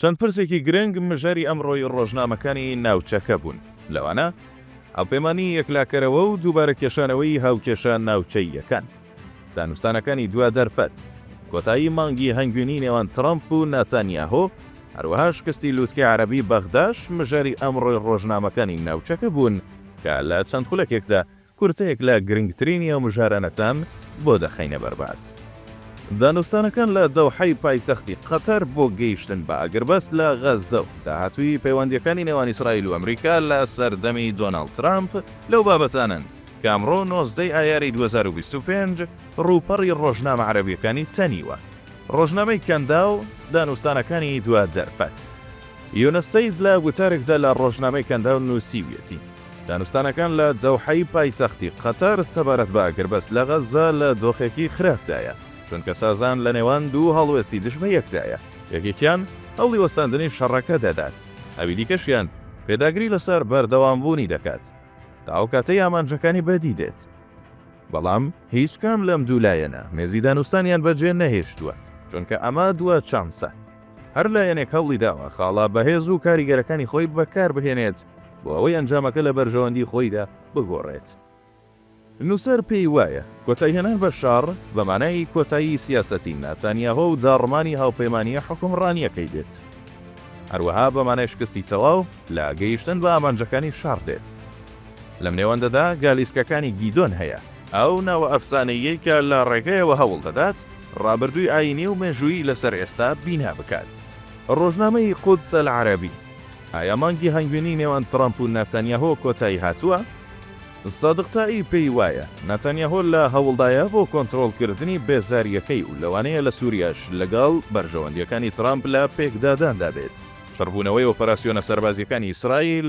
چەند پرسێکی گرنگ مژاری ئەمڕۆی ڕۆژنامەکانی ناوچەکە بوون، لەوانە هاوپەیمانیی یەکلاکەرەوە و دووبارە کێشانەوەی هاوکێشە ناوچەییەکان، دانوستانەکانی دوا دەرفەت، کۆتایی مانگی هەنگوینی نێوان ترەمپ و ناتانیاهۆ، هەروەها شکستی لووتکەی عەرەبی بەغداش مژاری ئەمڕۆی ڕۆژنامەکانی ناوچەکە بوون کە لە چەند خولەکێکدا کورتەیەک لە گرنگترینی ئەو مژارانەتان بۆ دەخەینە بەرباس. دانوستانەکان لە دەوحەی پایتەختی قەتەر بۆ گەیشتن بە ئاگربەست لە غەززە و داهاتووی پەیوەندییەکانی نێوان ئیسرائیل و ئەمریکا لە سەردەمی دۆناڵد ترامپ لەو بابەتانەن کە ئەمڕۆ نۆزدە ی ئایاری دوو هەزار و بیست و پێنج ڕووپەڕی ڕۆژنامە عەرەبییەکانی تەنیوە. ڕۆژنامەی کەنداو دانوستانەکانی دوا دەرفەت. یونس سەید لە گوتارێکدا لە ڕۆژنامەی کەنداو نووسیویەتی، دانوستانەکان لە دەوحەی پایتەختی قەتەر سەبارەت بە ئاگربەست لە غەززە لە دۆخێکی خراپدایە، چونکە سازان لە نێوان دوو هەڵوێستی دژبە یەکدایە، یەکێکیان هەوڵی وەستاندنی شەڕەکە دەدات، ئەوی دیکەشیان پێداگری لەسەر بەردەوامبوونی دەکات تا ئەو کاتەی ئامانجەکانی بەدی دێت. بەڵام هیچ کام لەم دوو لایەنە مێزی دانوستانیان بەجێ نەهێشتووە، چونکە ئەمە دوا چانسە. هەر لایەنێک هەوڵی داوە خاڵە بەهێز و کاریگەرەکانی خۆی بەکاربهێنێت بۆ ئەوەی ئەنجامەکە لە بەرژەوەندی خۆیدا بگۆڕێت. نووسەر پێی وایە کۆتایهێنان بە شەڕ بە مانای کۆتایی سیاسەتی ناتانیاهۆ و داڕمانی هاوپەیمانییە حوکمڕانییەکەی دێت. هەروەها بە مانای شکستی تەواو لە گەیشتن بە ئامانجەکانی شەڕ دێت. لەم نێوەندەدا گالیسکەکانی گیدۆن هەیە، ئەو ناوە ئەفسانەییەی کە لە ڕێگەیەوە هەوڵ دەدات ڕابردووی ئایینی و مێژوویی لەسەر ئێستا بینا بکات. ڕۆژنامەی قودس العربی، ئایا مانگی هەنگوینی نێوان ترەمپ و ناتانیاهۆ کۆتایی هاتووە؟ سادق تائی پێی وایە ناتانیاهۆ لە هەوڵدایە بۆ کۆنترۆڵکردنی بێزارییەکەی و لەوانەیە لە سووریاش لەگەڵ بەرژەوەندییەکانی ترەمپ لە پێکداداندا بێت. چڕبوونەوەی ئۆپەراسیۆنە سەربازییەکانی ئیسرائیل،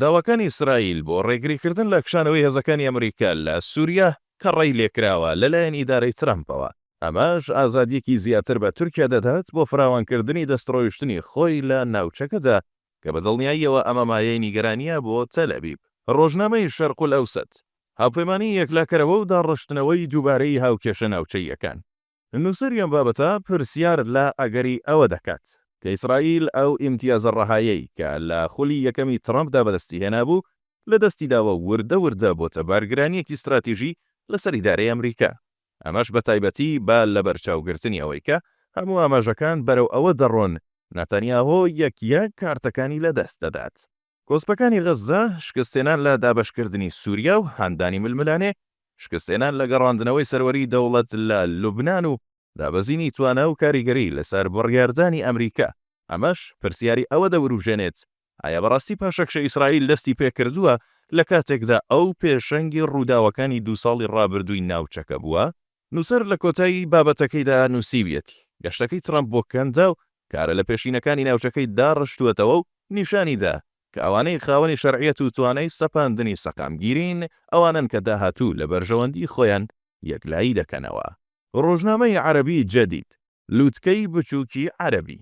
داواکانی ئیسرائیل بۆ ڕێگریکردن لە کشانەوەی هێزەکانی ئەمریکا لە سووریا کە ڕێی لێکراوە لەلایەن ئیدارەی ترەمپەوە، ئەمەش ئازادییەکی زیاتر بە تورکیا دەدات بۆ فراوانکردنی دەستڕۆیشتنی خۆی لە ناوچەکەدا، کە بە دڵنیاییەوە ئەمە مایەی نیگەرانییە بۆ تەلئەبیب. ڕۆژنامەی شەرقولئەوسەت، هاوپەیمانیی یەکلاکەرەوە و داڕشتنەوەی دووبارەی هاوکێشە ناوچەییەکان، نووسەری ئەم بابەتە پرسیار لە ئەگەری ئەوە دەکات، کە ئیسرائیل ئەو ئیمتیازە ڕەهایەی کە لە خولی یەکەمی ترەمپدا بەدەستی هێنابوو، لە دەستی داوە و وردە وردە بۆتە بارگرانییەکی ستراتیژی لەسەر ئیدارەی ئەمریکا، ئەمەش بە تایبەتی بە لەبەرچاوگرتنی ئەوەی کە هەموو ئاماژەکان بەرەو ئەوە دەڕۆن ناتانیاهۆ یەک یەک کارتەکانی لەدەست دەدات. کۆسپەکانی غەززە، شکستهێنان لە دابەشکردنی سووریا و هاندانی ململانێ، شکستهێنان لە گەڕاندنەوەی سەروەریی دەوڵەت لە لوبنان و دابەزینی توانا و کاریگەری لەسەر بڕیاردانی ئەمریکا، ئەمەش پرسیاری ئەوە دەوروژێنێت، ئایا بەڕاستی پاشەکشە ئیسرائیل دەستی پێ کردووە، لە کاتێکدا ئەو پێشەنگی ڕووداوەکانی دوو ساڵی ڕابردووی ناوچەکە بووە؟ نووسەر لە کۆتایی بابەتەکەیدا نووسیویەتی، گەشتەکەی ترەمپ بۆ کەندا و کارە لەپێشینەکانی ناوچەکەی داڕشتووەتەوە و نیشانی دا کە ئەوانەی خاوەنی شەرعیەت و توانای سەپاندنی سەقامگیرین ئەوانەن کە داهاتوو لە بەرژەوەندی خۆیان یەکلایی دەکەنەوە. ڕۆژنامەی عەرەبی جەدید. لوتکەی بچووکی عەرەبی،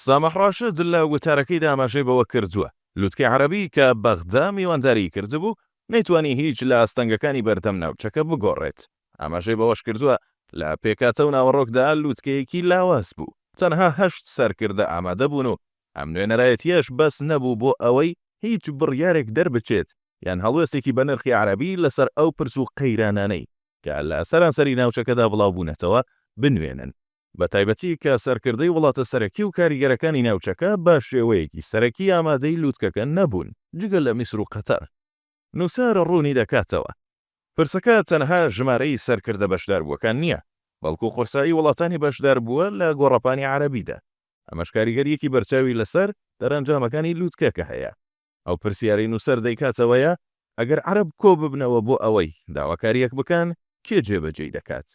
سامح ڕاشد لە وتارەکەیدا ئاماژەی بەوە کردووە، لوتکەی عەرەبی کە بەغدا میوانداریی کردبوو، نەیتوانی هیچ لە ئاستەنگەکانی بەردەم ناوچەکە بگۆڕێت، ئاماژەی بەوەش کردووە، لە پێکهاتە و ناوەڕۆکدا لوتکەیەکی لاواز بوو، تەنها هەشت سەرکردە ئامادەبوون و ئەم نوێنەرایەتییەش بەس نەبوو بۆ ئەوەی هیچ بڕیارێک دەربچێت یان هەڵوێستێکی بەنرخی عەرەبی لەسەر ئەو پرس و قەیرانانەی کە لە سەرانسەری ناوچەکەدا بڵاوبوونەتەوە، بنوێنن، بەتایبەتی کە سەرکردەی وڵاتە سەرەکی و کاریگەرەکانی ناوچەکە بە شێوەیەکی سەرەکی ئامادەی لووتکەکە نەبوون، جگە لە میسر و قەتەر. نووسەر ڕوونی دەکاتەوە، پرسەکە تەنها ژمارەی سەرکردە بەشداربووەکان نییە، بەڵکو قورسایی وڵاتانی بەشداربووە لە گۆڕەپانی عەرەبیدا، ئەمەش کاریگەرییەکی بەرچاوی لەسەر دەرئەنجامەکانی لووتکەکە هەیە. ئەو پرسیارەی نووسەر دەیکاتەوەیە، ئەگەر عەرەب کۆببنەوە بۆ ئەوەی داواکارییەک بکەن، کێ جێبەجێی دەکات؟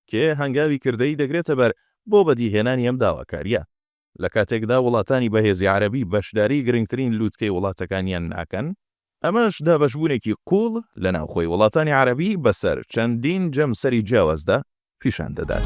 کێ هەنگاوی کردەیی دەگرێتە بەر بۆ بەدیهێنانی ئەم داواکارییە؟ لە کاتێکدا وڵاتانی بەهێزی عەرەبی بەشداریی گرنگترین لووتکەی وڵاتەکانیان ناکەن، ئەمەش دابەشبوونێکی قووڵ لە ناوخۆی وڵاتانی عەرەبی بەسەر چەندین جەمسەری جیاوازدا پیشان دەدات.